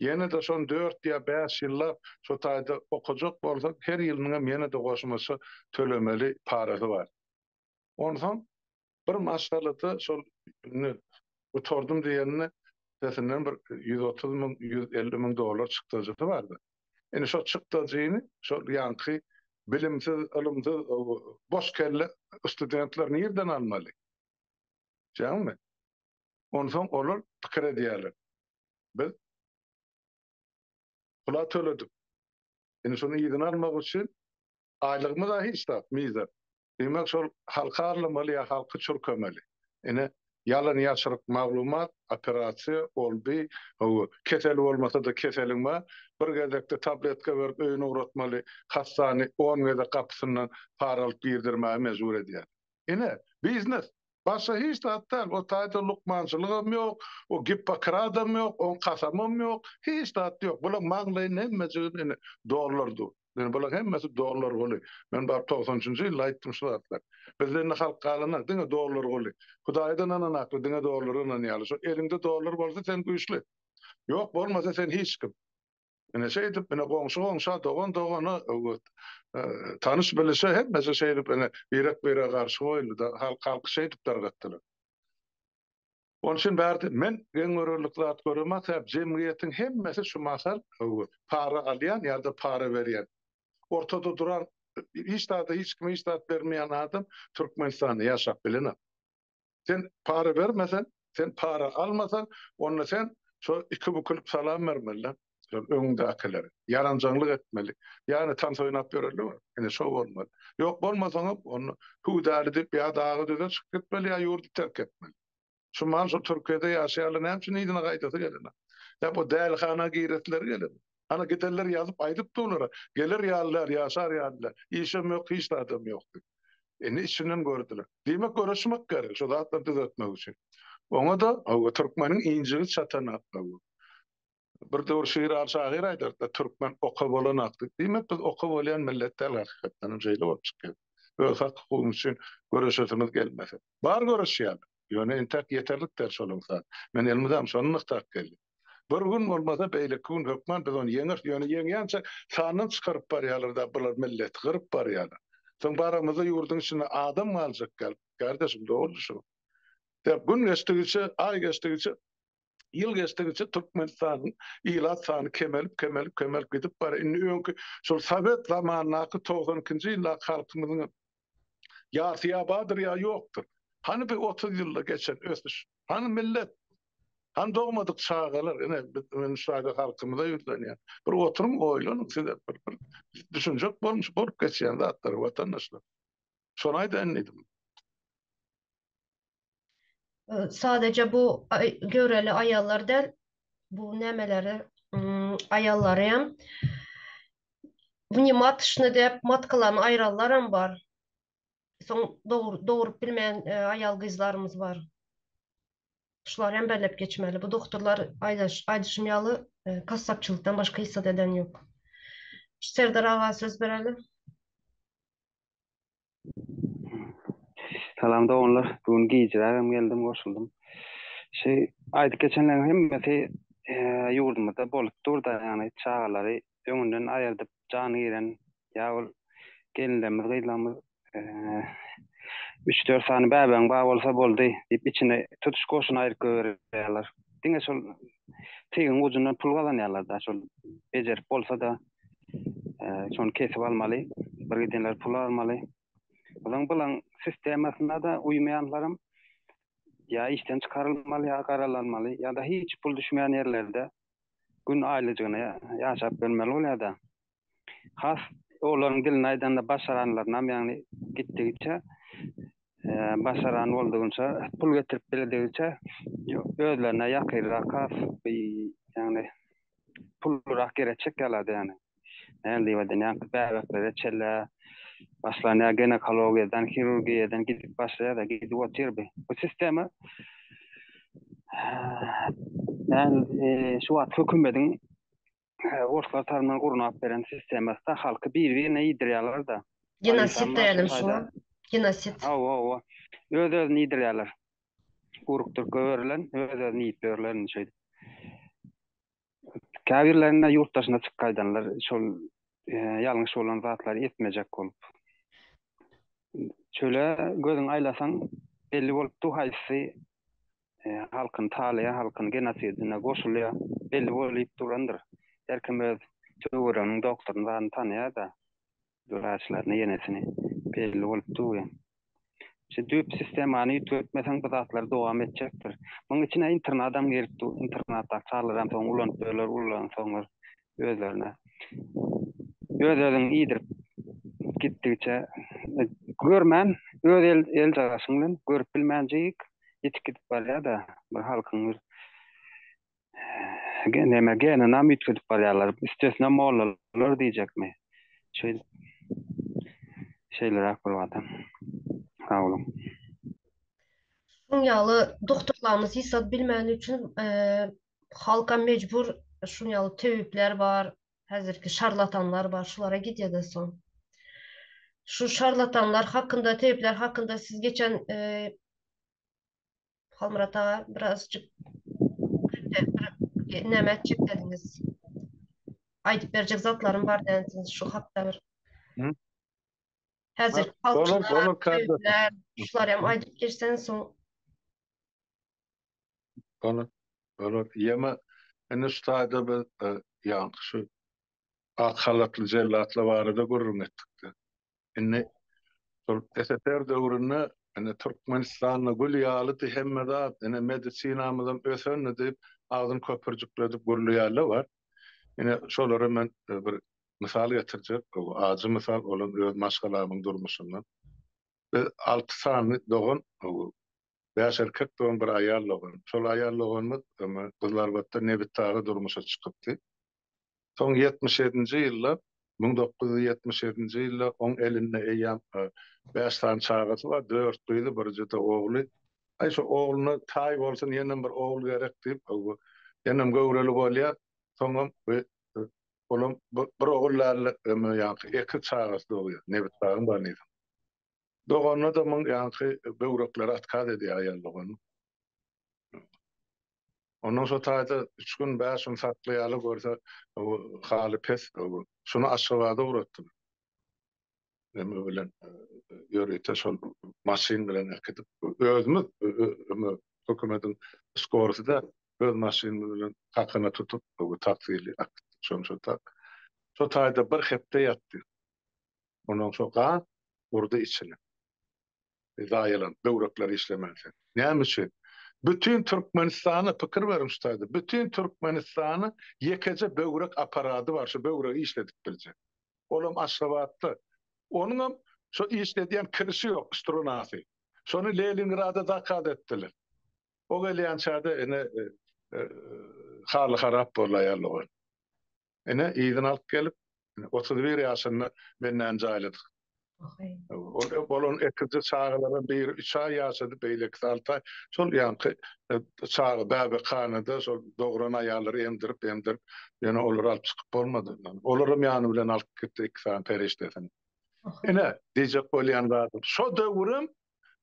Ýene-de şony dört ýa bäş ýyllap şo taýda okajak bolsaň, her ýylynyňam ýene-de goşmaça tölemeli parasy bar. Onsoň Bir maşgalada şol indi gutardym diýenini sesinden bir ýüz otuz müň, ýüz elli müň dollar çykdajysy bardy. Indi şo çykdajyny şol ýaňky bilimsiz, ylymsyz, boş kelle studentler nirden almaly? Şeýdäňizmi? Onsoň olar pikir edýärler. Biz pul-a töledik. Indi şony yzyna almak üçin aýlygymyz-a hiç zat, mizer. Diýmek şol halka arlamaly ýa halky çürkemeli. Ine ýalan ýaşryk maglumat, operasiýa, ol bi, hawa keseli bolmasa-da keseliň bar, bir gezekde tabletka berip öýüne ugratmaly hassany on gezek gapysyndan para alyp girdirmäge mejbur edýär. Ine biznes, Başga hiç zat däl, o taýda lukmançylygam ýok, o Gippokradam ýok, oň kasamam ýok, hiç zat ýok. Bulaň maňlaýyny hemmejigini ine, dollar dur. Ine, bulaň hemmesi dollar guly. Men bar togsan üçünji ýylda aýtdym şu zatlary. Bizde indi halk galanok, diňe dollar guly. Hudaýdan ynanakly, diňe dollara ynanýarlar. Şo eliňde dollar bolsa, sen güýçli. Ýok, bolmasa, sen hiç kim. Ine şeýdip ine goňşy goňşa dogan dogana öwüt tanyş bilişe hemmesi şeýdip ine birek birege garşy goýuldy-da halk halky şeýdip dargatdylar. Onuň üçin bärde men geň görerlik zat göremok sebäp jemgyýetiň hemmesi şu mahal öwüt para alýan ýa-da para berýän ortada duran hiç zada hiç kime hiç zat bermeýän adam Türkmenistanda ýaşap bilenok. Sen para bermeseň, sen para almasaň, onda sen şo iki bukulyp salam bermeli-de, şol öňüňdäkilere. Ýaranjaňlyk etmeli. Ýagny tans oýnap ýöreli bir. Ine şo bolmaly. Ýok bolmasaňam onda hüwdäli diýip ýa dagy düze çykyp gitmeli ýa ýurdy terk etmeli. Şu mal şu Türkiýede ýaşaýarlar näme üçin yzyna gaýdasy gelenok? Ýa bu dälihana giresileri gelenok? Ana giderler ýazyp aýdyp dur olara, geler ýalylar, ýaşar ýalylar, işem ýok, hiç zadam ýok diýip. Indi içinden gördiler. Diýmek göreşmek gerek şu zatlary düzeltmek üçin. Oňa-da hawa türkmeniň injigi çatan akga bu. Bir döwür Şiral şahyr aýdardy, türkmen oka bolan ak diýip. Diýmek biz oka bolýan millet däl hakykatdanam şeýle bolup çykýar. Öz hak hukugymyz üçin göreşesimiz gelmese. Bar göreşýän. Ýöne entäk ýeterlik däl şolaň sany. Men elimizem şony nygtap geldim. Bir gün bolmasa beýleki gün hökman biz ony ýeňeris, ýöne ýeňýänçä sandan çykaryp barýarlar-da bular milleti gyryp barýarlar. Soň baramyzda ýurduň içinde adam galjak däl gardaşym dogry şu. Dep gün geçdigiçe, aý geçdigiçe, ýyl geçdigiçe Türkmenistanyň ilat sany kemelip kemelip kemelip gidip barýar. Indi öňki şol sowet zamanyndaky togsan ikinji ýyldaky halkymyzyňam Ýarsy ýa bardyr, ýa ýokdur. Hany bu otuz ýylda geçen ösüş? Hany millet? Hany dogmadyk çagalar? Ine, men şu ýerde halkymyza ýüzlenýän. Bir oturyň, oýlanyň sizem bir, bir düşünjek bolmuş bolup geçýän zatlary, watandaşlar. Şony aýdaýyn diýdim. Sadaja bu göwreli aýallar däl, bu nämeleri aýallaryam wnimatçny dep matkalaryny aýranlaram bar. Soň dogrup bilmeýän aýal-gyzlarymyz bar. Şulary hem bellep geçmeli. Bu dogturlar aýdyşym ýaly kassapçylykdan başga hiç zat eden ýok. Serdar aga söz bereli. Salam doganlar. Bu gün gijiräk hem geldim, goşuldym. Şu aýdyp geçenleriň hemmesi eee, ýurdumyzda bolup dur-da, ýagny çagalary öňünden aýyrdyp jany giren ýa ol gelinlerimiz, gyzlarymyz eee, üç-dört sany bäbegiň bar bolsa boldy diýip içini tutuş goşuny aýryp goýberýärler. Diňe şol teýigiň gujundan pul gazanýarlar-da, şol bejerip bolsa-da, şony kesip almaly, bir gidenler pul almaly. Ozaň bilen sistemasyna da uýmaýanlaram ýa işden çykarylmaly, ýa garalanmaly, ýa-da hiç pul düşmeýän ýerlerde gün aýlyjygyna ýaşap görmeli bolýar-da. Has olaryň dilini aýdanda başaranlarynam ýagny gitdigiçe başaran boldugyňça, pul getirip bildigiňçe özlerine ýakyrrak ýagny pullurak ýere çekýärlerdi ýagny. Näme diýip aýdan, bäbeklere çellä başlan ýa ginekologiýadan, hirurgiýadan gidip başlaýar-da, gidip otyr bi. Bu sistema şu wagt hökümediň Orslar tarman gurnap beren sistemasda halky bir birine iydiryalarda. Genosid dälim şu genosid. Hawa hawa öz özüni iydiryaler. Uruk türke berilen öz özüni iyip yörler indi şeýdip. Kabirlerinde yurt daşyna çyk gaydanlar şol yalňyş bolan zatlary etmejek bolup. Çöle gözün aylasan belli bolup du haysy halkyny talaýan halkyny genosidine goşulýar belli bolýup durandyr her kim öz töwereginiň doktoryny zaryny tanaýada wraçlaryny ýenesini belli bolup dur ýa şu düýp sistemany üýtgetmeseň bu zatlar dowam etjekdir munuň içine internadam girip dur internatdaky çagalar hem soň ulanyp ýörler ulansoňlar özlerine. Öz özüň iýdirip gitdigiçe görmän öz el el jagaşyň bilen görüp bilmänjik ýitip gidip barýada bir halkyň bir gen neme geninam üýtgedip barýarlar üstesine mollalar diýjekmi şeý şeýleräk bolýada sag boluň. Şuň ýaly doktorlarymyz ýygsat bilmegini üçin halkam mejbur şun ýaly töwipler bar häzirki şarlatanlar bar şulara gidýada soň şu şarlatanlar hakynda töwipler hakynda siz geçen Halmyrat aga birazjyk näme etjek diýdiňiz aýdyp berjek zatlarym bar dänsiňiz şu hakda bir häzir şular hem aýdyp geçseň soň Bolar, bolar. Ýeme, indi şu taýda biz ýaňky şu ak halatly jellatlar barada gürrüň etdik-de. Indi şol SSR döwründe indi Türkmenistanda gül ýalydy hemme zat, indi medisinamyzam ösendi diýip, agzyny köpürjikledip gürleýänler bar. Ine, şolara men bir mysal getirjek, bu ajy mysal, ol hem öz maşgalamyň durmuşyndan. Biz alty sany dogan Bäş erkek dogan, bir aýal dogan. Şol aýal doganymyz öňe Gyzlarbatda nebitdaga durmuşa çykypdy. Soň ýetmiş ýedinji ýylda, müň dokuz ýüz ýetmiş ýedinji ýylda oň elinde eýýäm bäş sany çagasy bar, dört gyzy, birje-de ogly. Aý, şo ogluna taý bolsun, ýenem bir ogul gerek diýip, ýenem göwreli bolýar. Soňam olam bir ogul däl-de, öňe ýaňky ekiz çagasy dogýar, nebitdagyň banysynyň. Dogan adamyň ýaňky böwrekleri atkaz edýär aýal doganyň. Ondan şo taýda üç gün, bäş gün saklaýarlar, görse haly pes. Şuny Aşgabada ugratdym. Neme bilen, ýörite şol maşyn bilen äkidip, özümiz hökümediň skorysy-da öz maşynymyz bilen kakana tutup, taksili äkitdik. Şony şo tak. Şo taýda bir hepde ýatdy. Ondan soň gaz urdy içine. Zaýalandy, böwrekler işlemän sen. Näme üçin? Bütin Türkmenistana pikir beriň şu taýda. Bütin Türkmenistana ýekeje böwrek aparady bar, şu böwregi işledip biljek. Olam Aşgabatda. Onuňam şo işledýän kirişi ýok, strunasy. Şony Lelingrada zakaz etdiler. O gelýänçäde ine haly harap boldy aýal dogan. Ine, yzyna alyp gelip, otuz bir ýaşynda bendäni jaýladyk. Ol bolan ekizje çagalara biri üç aý ýaşady, beýlekisi alty aý. Şol ýaňky çaga bäbekhanada şol dogran aýallary emdirip-emdirip, ýöne olary alyp çykyp bolmady. Olaram ýany bilen alyp gitdi iki sany perişdesini. Ine, diýjek bolýan zadym, şo döwürem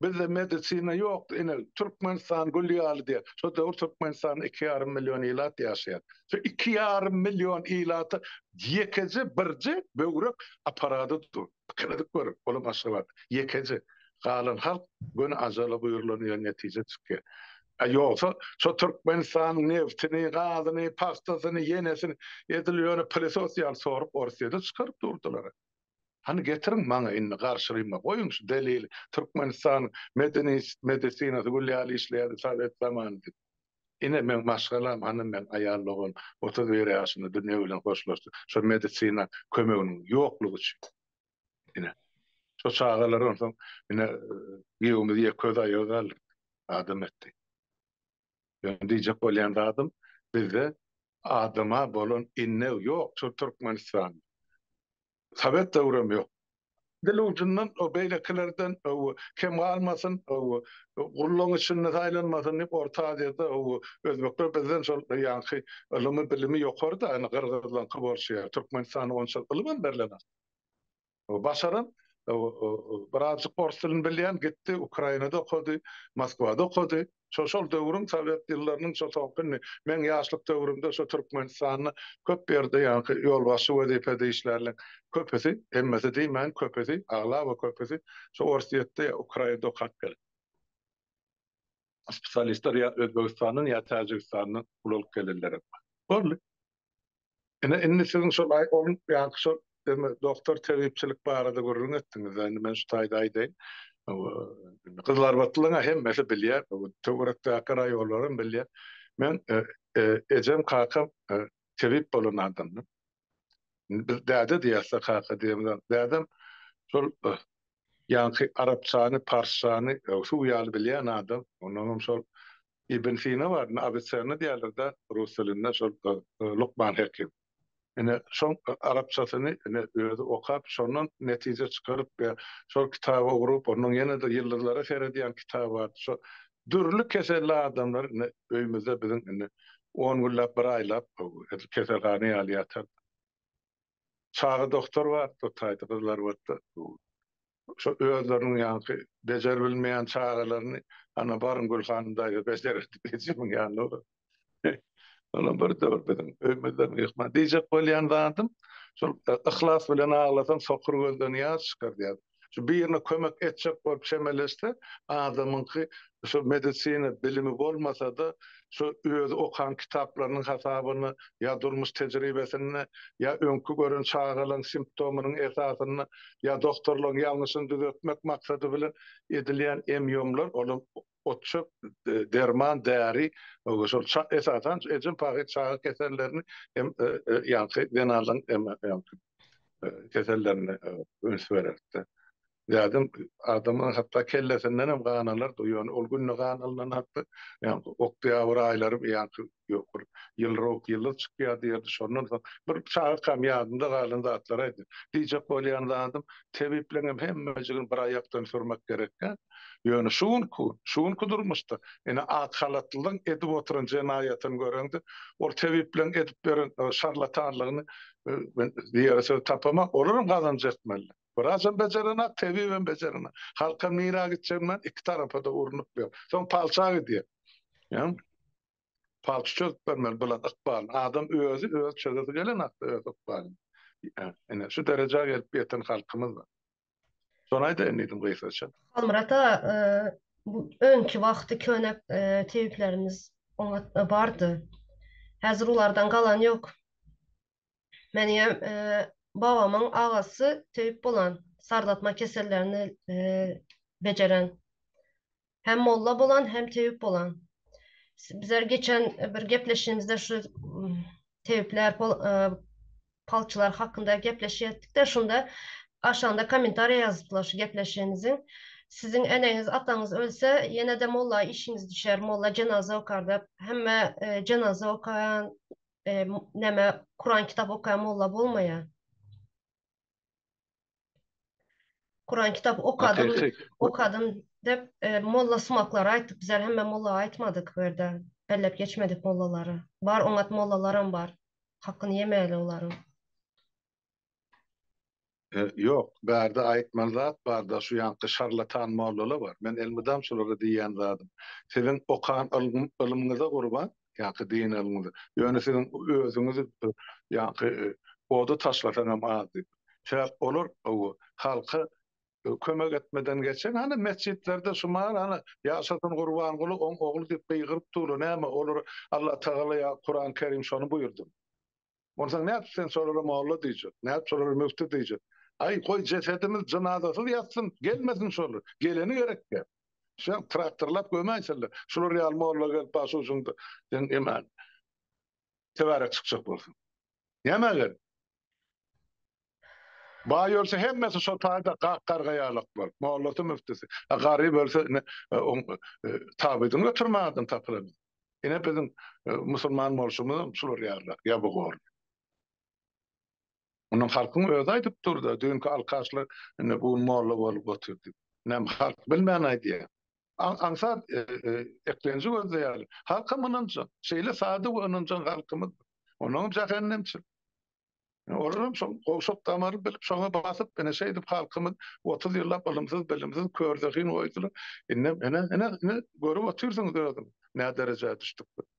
Bizde medisina ýokdy ine Türkmenistan gül ýaly diýýär. Şo döwür Türkmenistanda iki ýarym million ilat ýaşaýar. Şu iki ýarym million ilata ýekeje birje böwrek aparady dur. Pikir edip gör, olam Aşgabat. Ýekeje. Galan halk göni ajala buýrulan ýa netije çykýar. A ýogsa şo Türkmenistanyň nebtini, gazyny, pagtasyny, ýenesini edil ýöne pylesos ýaly sorup Orsyýede çykaryp durdylar. Hany getiriň maňa indi garşylyma goýuň şu delili Türkmenistan medeniyt medesinasy gül ýaly işleýärdi sowet zamany diýip. Ine meň maşgalam hany meň aýal dogan otuz bir ýaşynda dünýe bilen hoşlaşdy şo medisina kömeginiň ýoklugy üçin. Ine. Şo çagalar onsoň ine giýewimiz ýek öz aýagy galdy. Adam etdi. Meniň diýjek bolýan zadym, bizde adama bolan innew ýok şu Türkmenistanda. Sowet döwrem ýok. Dil ujundan o beýlekilerden kem galmasyn, gullaň içinde saýlanmasyn diýip Orta Aziýada özbekler bizden şol ýaňky ylymy-bilimi ýokary-da, ýöne gyrgyzlaňky bolşy ýaly. Türkmenistanda onçalyk ylymam berlenok. başaran, birazjyk ors dilini bilýän, gitdi Ukrainada okady, Moskwada okady. Şo şol döwrüň sowet ýyllarynyň şo soňky indi meň ýaşlyk döwrümde şo Türkmenistanda köp ýerde ýaňky ýolbaşçy wezipede işlärleň köpüsi, hemmesi diýmäýin, köpüsi, aglaba köpüsi şo Orsýetde ýa Ukrainada okap gelip. spesialistler ýa Özbegistandan ýa Täjigistandan pul alyp gelenler hem bar. Boldy. Ine indi siziň şol aý ol ýaňky şol eme doktor tebipçilik barada gürrüň etdiňiz indi men şu taýda aýdaýyn. Gyzylarbatlylaryň hemmesi bilýär, töwerekdäki raýonlar hem bilýär. Men ejem kakam tebip bolan adamdyr. Indi biz däde diýäs-de, kaka diýemizok. Dädem şol ýaňky arapçany, parsçany suw ýaly bilýän adam. Onnoň hem şol Ibn Sina bar, indi Awiçenna diýerler-de rus dilinde, şol Lukman Hekim. Ine, şoň arapçasyny ine özi okap, şondan netije çykaryp we şol kitaba ugrup, onnoň ýene-de ýyldyzlara seredýän kitaby bar. Şo Dürli keselli adamlar indi öýümizde biziň indi on günläp, bir aýlap edil keselhana ýaly ýatar. Çaga doktor bar, bu taýda gyzlar bolsa, şo özleriniň ýaňky bejerip bilmeýän çagalaryny, Ana, baryň Gülhanym daýza bejerer diýip, ejemiň ýanyna Ýöne birde-bir biziň öýmüzden gyýkma. Diýjek bolýan zadym, şol yhlas bilen aglasaň, sokur gözden ýaş çykar diýýär. Şu birine kömek etjek bolup çemeleşse, adamyňky şu medisina bilimi bolmasa-da, şu özi okan kitaplarynyň hasabyna ýa durmuş tejribesine, ýa öňki gören çagalaň simptomynyň esasyna, ýa doktorlaň ýalňyşyny düzetmek maksady bilen edilýän em-ýomlar, olam otçuk, derman, däri, şol esasan ejem pahyr çaga kesellerini hem ýaňky zenanlaryň ýaňky kesellerine üns bererdi. Dädem adamyň hatda kellesindenem gan alardy, ýöne ol günde gan alnan hakda ýaňky oktýabr aýlary ýaňky ýokary ýylrok ýyldyz çykýar diýerdi. Şondan soň bir çagakam ýadymda galan zatlar aýdýar. Diýjek bolýan zadym, tebipleňem hemmejigini bir aýakdan sürmek gerekkä. Ýöne şu günki gün, şu günki durmuşda ine ak halatlylaryň edip oturan jenaýatyny göreňde, ol tebipleň edip ýören şarlatanlygyny men diýere söz tapamok. Olaram gazanç etmeli. Wraçam bejerenak, tebibem bejerenak. Halkam nirä gitjegini bilen iki tarapa-da urnup ýör. Soň palça gidýär. Palçy çözüp bermeli bulan ykbalyny. Adam özi öz çözesi gelen hakda öz ykbalyny. Ine şu derejä gelip ýeten halkymyz bar. Şony aýdaýyn diýdim gysgaça. Halmyrat aga, bu öňki wagty köne tebiplerimiz oňat bardy. Häzir ulardan galan ýok. Menem babamyň agasy tebip bolan, sardatma kesellerini bejeren. Hem molla bolan, hem tebip bolan. Bizler geçen bir gepleşigimizde şu tebipler, palçylar hakynda gepleşýetdik-de, şunda aşagynda kommentariýa ýazypdylar şu gepleşigimiziň. Siziň eneňiz, ataňyz ölse, ýene-de molla işiňiz düşer, molla jenaza okar diýip. Hemme jenaza okaýan, e, näme Kuran kitap okaýan molla bolmaýar. Kuran kitap okadym, okadym dep e, molla sumaklar aýtdyk. Bizler hemme molla aýtmadyk bu ýerde. Belläp geçmedik mollalary. Bar oňat mollalaram bar. Hakyny ýemäýeli olaryň. Ýok, bärde aýtmaly zat barda şu ýanky şarlatan mollala bar. Men elmydam şulara diýýän zadym. Siziň okan ylmyňyza gurban, ýanky din ylmyňyza. Ýöne siziň özüňiz ýanky oda taşlasaňam az diýip. Sebäp olar owo halka kömek etmeden geçen hany metjitlerde şu mal hany ýaşasyn Gurbanguly oň ogly diýip gygyryp durla näme olara Allatagala ýa Kuran Kerim şony buýurdymy. Onsoň nädip sen şolara molla diýjek, nädip şolara müfti diýjek? Aý, goý, jesedimiz jynazasyz ýatsyn, gelmesin şolar. Geleni gerekkä? Şuňa traktorlap gömäýsele. Şular ýaly molla gelip başujuňda seň emä töwärek çykjak bolsun. Nämä gerek? Baý ölse hemmesi şo taýda gak gargaýarlyk bolup, mollasy müftisi. A garyp ölse ine oň tabydyny götermän adam tapylanok. Ine biziň musulman bolşumyzam şular ýaly ýabygor. Muny halkyň özi aýdyp dur-da, düýnki alkaşlar indi bu gün molla bolup oturdy. Näme halk bilmän aýdýar. Aňsat eklenji gözde ýaly. Halkam ynanjak. Şeýle sadyk we ynanjaň halkymyz. Onuňam jähennemçil. Olaram şol gowşak damary bilip, şoňa basyp, ine, şeýdip halkymy otuz ýyllap ylymsyz-bilimsiz, körzehin goýdular. Indem, ine, ine, ine, görüp otyrsyňyz özüňiz, näderejä düşdükdigini.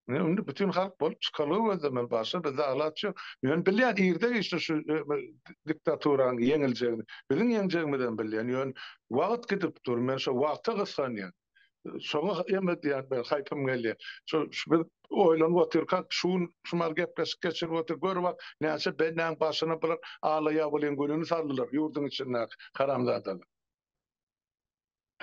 Ine, indi bütin halk bolup çykalga gözlemeli, başga bizde alaç ýok. Men bilýän, irde-giçde şu diktaturanyň ýeňiljegini, biziň ýeňjegimizem bilýän, ýöne wagt gidip dur, men şo wagta gysganýan. Şoňa hem diýýän bir haýpym gelýär. Şu biz oýlanyp otyrka, şu gün şu mal gepleşik geçirip otyr, gör bak, näçe bendäň başyna bir ala ýabylyň gülüni saldylar ýurduň içindäki haramzadalar.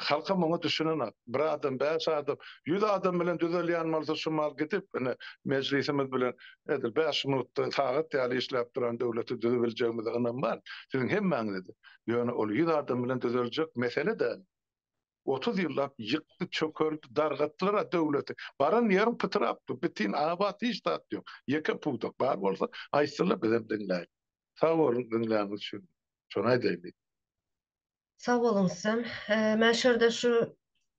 Halkam oňa düşünenok. Bir adam, bäş adam, ýüz adam bilen düzelýän bolsa şu mal gidip, ine, mejlisimiz bilen edil bäş minutda sagat ýaly işläp duran döwleti düzübiljegimize ynam bar. Siziň hemmäňize-de. Ýöne ol ýüz adam bilen düzeljek mesele däl. Otuz ýyllap ýykdy çökerdi dargatdylar-a döwleti. Baran ýeriň pytrapdyr, bitin abat hiç zat ýok. Ýeke pudak bar bolsa aýtsynlar bizem diňläýiň. Sag boluň diňläniňiz üçin. Şony aýdaýyn diýdim. Sag boluň sizem. Men şu ýerde şu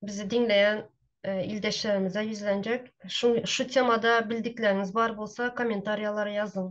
bizi diňleýän ildeşlerimize ýüzlenjek. Şu şu temada bildikleriňiz bar bolsa kommentariýalara ýazyň.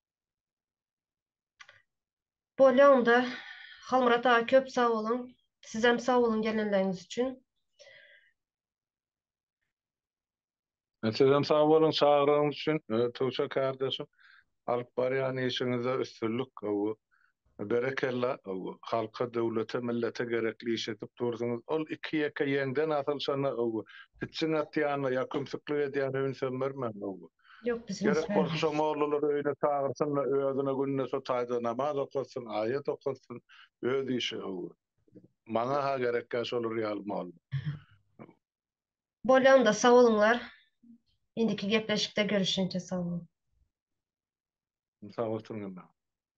Bolýaňda Halmyrat aga köp sag boluň. Sizem sag boluň gelenligiňiz üçin. Sizem sag boluň çagyrygyňyz üçin Tuça kardeşim. Alyp barýan işiňizde üstünlik gowy Berekella, halka döwlete millete gerekli iş edip dursuňyz, ol iki ýeke ýeňden asylşana pitjiň atýana ýa kümsüklik edýäne ünsem bermäň, gerek bolsa şo mollulary öýüne çagyrsynda özüne günde şo taýda namaz okatsyn, aýat okatsyn, öz işi, maňa ha gerekýa şolar ýaly molla. Bolýa onda sag boluňlar indiki gepleşikde görüşinçe sag boluň. Sag bolsun Gülnäm.